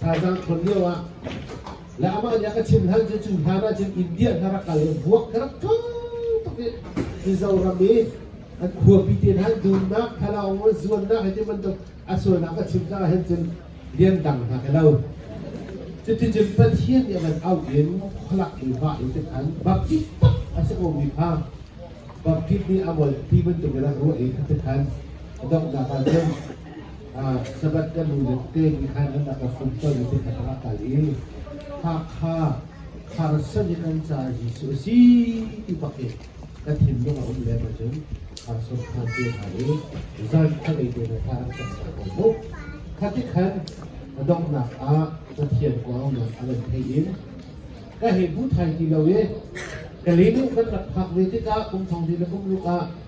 thazaang ṭhawn lio ah le amah nih a ka chimh hal cu cu hlan ah cun India hna rak kal i vuak ka rak ṭha tuk i Mizoram i an khuapi te hna dunnak thalaung zuannak hei ti bantuk a sualnak a chim caah hin cun lian dang hna ka lo cuticun Pathian nih a van auh in khualak in va in tin an baptist tak a si ko mi kha baptist nih a mol ti bantuk in a ruah i kha tikhan donghnak ah cun Sabbath kan nu le te ni khan an aka fun hlawi le te kha aka i Hakha Kharsan in an ca Jesuh a si ti bak in ka thinlung a um lem ahcun Kharsan khan te hna i zan khalei te na thar an cak hna ko mu. Kha ti khan donghnak ah Pathian kuangngan a lan thei in ka hei bu thai ti lo i ka linu kan rak phak ve tikah kum thong ti le kum ruk ah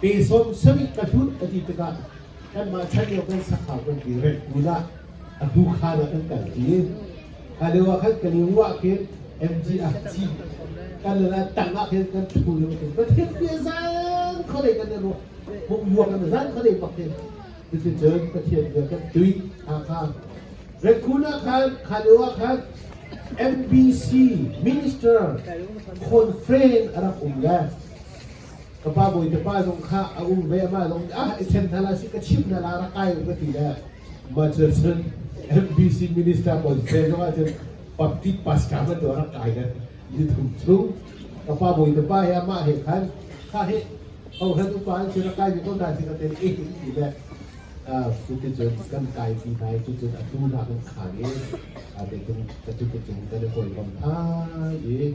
Pe Sawm Samih ka hlut ka ti tikah kanmah chanlio kan sakhau kan ti rem kun ah a tu khaan ah kan kal i kha lio ah khan ka lingwah khin MG ah ci kan le la tang ah khin kan thu le khin kan khin pia zan kholei kan ne ro hung yua kan zan kholei pak hin cuticun Pathian bia kan tui Hakha Rekhun ah khan kha lio ah khan MBC Minister conference a rak um le ka pa bawi te pa zong kha a um ve ma zong ah i then hna la si ka chim hna la ra kai ka ti le ma cun cun MBC minister pawl se zong ah cun Papit Pasca ma do ra kai le ni thum chu ka pa bawi te pa he ma he khan kha he ho han upa an si ra kai mi ko da si ka te eh ti le cutin cun kan kai ti nai cutin a tu na kan khan i a te tung ka cutin cung kan koi bam tha i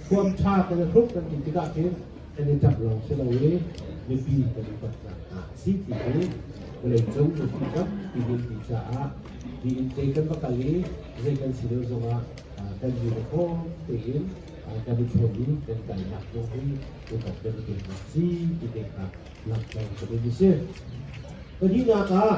huam ṭha kan i hruk kan ti tikah khin kan i ṭap lawng si lo i mipi kan i tat hna a si ti hi vawleicung mipi tampi minpi caah tiin kei kan va kal i zei kan si deuh zongah kan ni le khawm tein kan i ṭhen i kan kalnak zong hi rikok kan i peknak si ti te kha langhter ka duh a si. Pahnihnak ah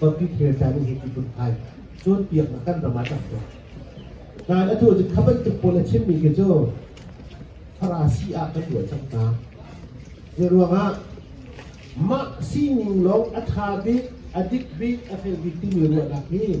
tonmi thil ca nih hi titluk ai cun piaknak kan ram ah cang ko. Nain a tu cu kha bantuk pawl a chimmi khi cu Farasi ah kan ruah cang hna. Hi ruangah mah sining lawng a ṭha bik, a dik bik, a fel bik timi ruahnak hi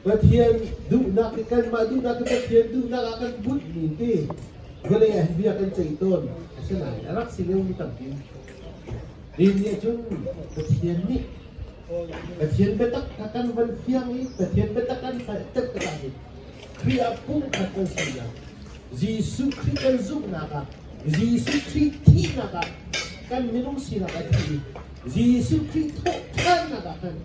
Pathian duhnak hi kanmah duhnak hi Pathian duhnak ah kan bunhmi ti vale bia kan ceih tawn a si lai a rak si leu mi tampi din nih cun Pathian nih Pathian biatak kha kan van fiang i Pathian biatak kan hngalh tet ka tak in Khrih ah pumkhat kan si nak Jesuh Khrih kan zumhnak ah Jesuh Khrih thihnak ah kan minung sinak a thi i Jesuh Khrih thawh ṭhannak ah kan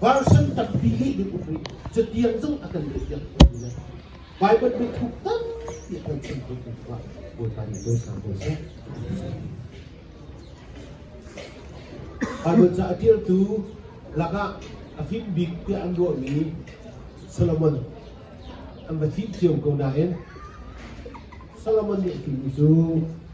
Version tampi nih hin um rih. Cutiang zong a kan leihpiak khomi le Baibal biathuk tampi a kan chim khomi kha Bawipa nih cawi sa ko seh. Baibal ca a ṭialtu lakah a fim bik tiah an ruahmi Solomon an va thih cio ko nain Solomon nih a fimmi cu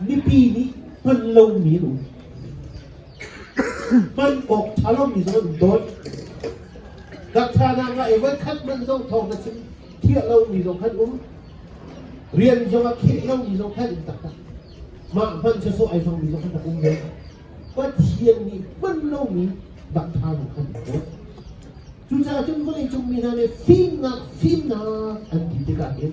Mipi nih hman lomi an um. Hman awk ṭha lomi zong an dawn. Dakṭhanak ah ei voi khat hmanh zong thawng na chim thiah lomi zong khan um. Rian zong a khinh lomi zong khan um taktak. Mah hman cu sawh ei zongmi zong khan um ve. Pathian nih hman lomi dakṭhanak khan an dawn. Cucaah cun vawleicung mi hna nih fimnak fimnak an ti tikah hin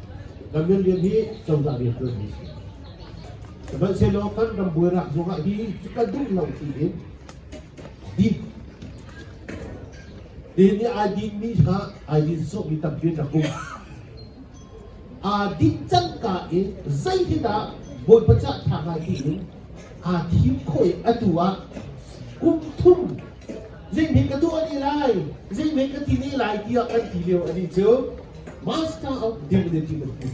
Kan rianrian hi cozah rian ṭuan hi a si. Sihmanhsehlaw kan ram buainak ruangah hi kan duh lo tiin din tiin nih ai dinmi kha ai din sawhmi tampi an rak um. Aa dinh cangka i zeitindah Bawipa cah ṭha ngai tiin aa thim khawh i atu ah kum thum Zinghmin ka tuah ni lai, zinghmin ka ti ni lai tiah kan ti lio a ni cu Master of Divinity kan ti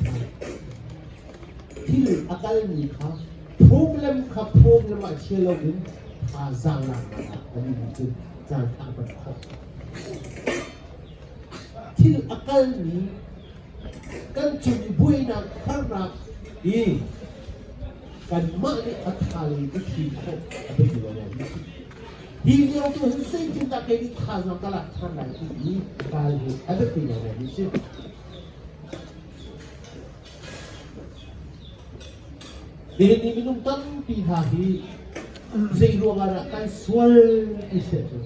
Thil a kalmi kha phung le kha phung le mah chia lo in thazaang la a ni cu caan thang kan khawh. Thil a kalmi kan cung i buainak harnak i kanmah nih a thalei i thim khawh a biapi lo. Hi lio cu hin zeitin dah kei nih thazaang ka lak ṭhan lai ti i ral hi a biapi ngaingai mi si. Kei nih minung tampi hna hi zei ruangah dah kai sual ai se cu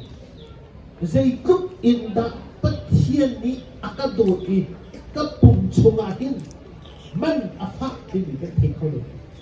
zeitluk in dah Pathian nih a ka dawt i ka pum chungah hin man a fak timi kan thei kho lo.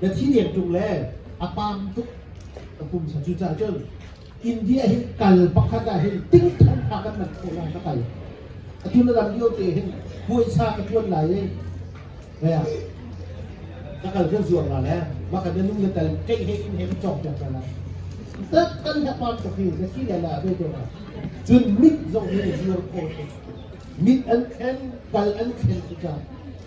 Na thi deng ṭung le a paam tuk ka pumsa. Cucaah cun India hi kal pakhat ah hin tingthan fa kan man khawh lai ka kai. Atun ram lio te hin puaisa ka ṭuan lai e. Kaya, ka kal kan zuang la le makan na nu na tal kei he in he cong peng ta la. Tat kan ha paam tuk hi na thi le la ve te na. Cun mit zong hi zuar khawh tuk. Mit an khen, kal an khen cucaah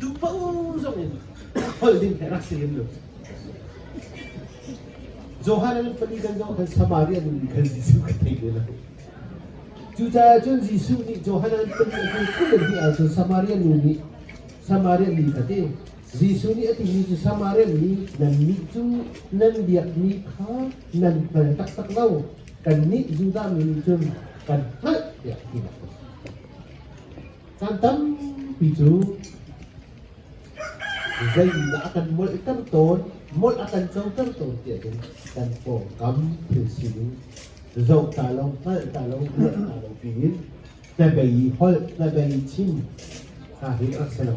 Duhpoh zong in holh ding he rak si hrim lu. Johan an fali kan zoh khan Samaria nun ni khan Jesuh ka thei ve lo. Cucaah cun Jesuh nih Johan an fali a hnu kul an ti ahcun Samaria nu nih Samaria mi ka ti. Jesuh nih a timi cu Samaria mi nannih cu nan biakmi kha nan hngal taktak lo. Kannih Judah mi nih cun kan hngalh tiah ti a si. Caan tampi cu zeidah a kan molhter tawn, molh a kan coter tawn tiahcun kan pawngkam thil sining zoh ta lo, hngalh ta lo, ruah ta lo tiin hnabei i holh, hnabei chim hna hi a si lo.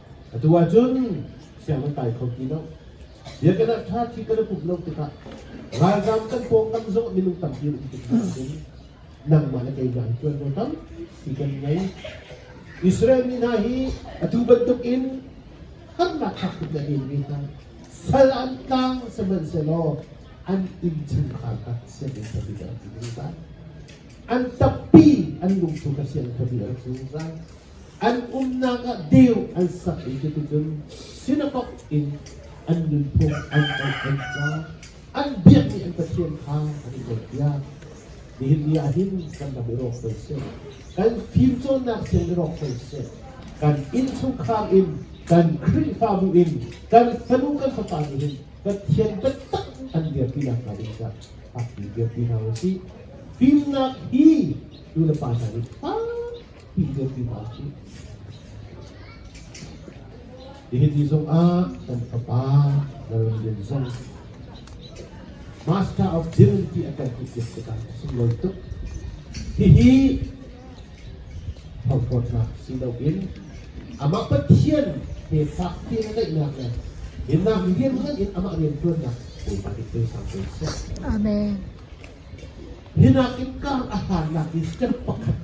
Atu ahcun siang an kai kho ti lo. Biakinn ah ṭha thi kan pumh lo tikah ralzaam kan pawngkam zong minung tampi an um tikah cun nangmah le kei hna hi ṭuanvo tampi kan ngei. Israel mi hna hi atu bantukin harnak hak tuk na ngeimi hna sal an tlang sihmanhsehlaw an innchungkhar kha sianginn khabi ah an ti zungzal. An tampi an lungthu kha sianginn khabi ah an ti zungzal. an umnak ah deu an sak i cuticun synagogue in an nunphung an oih an cang an biakmi an pathian kha an i oihpiak nihin ni ah hin kan ram i rawk ko seh kan fimcawnnak siang i rawk ko seh kan innchungkhar in kan khrihfabu in kan fanu kan fapa nih hin pathian biatak an dirpi nakhnga ding kha a ti dirpi hna u sih fimnak hi nu le pa hna nih Hihi ti zongah kan fapa Lalrin zong Master of Divinity a kan tikik tikah sunglawi tuk. Hihi hauhrawtnak si loin amah Pathian he fakti na naihnak le hinnak rian ngaiin amah rian tuannak Bawipa nih pe sang ko seh. Amen. Hi nakin kar a harnak hi step pakhat,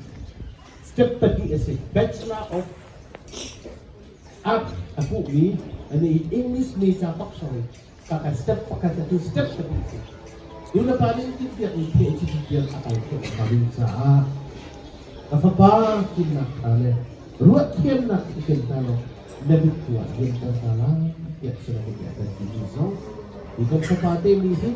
step pahnih a si. Bachelor of Art a hmuhmi, an i English major paksang in kakar step pakhat a tu step pahnih si. Nulepa nih tintiak in PhD bial a kal khawh ka ding caah ka fapa fimnak hna le ruah thiamnak i ken hna lo na bit tuah diam ko hna lai tiah sinamin a kan ti zong. Ikan fapa te nih hin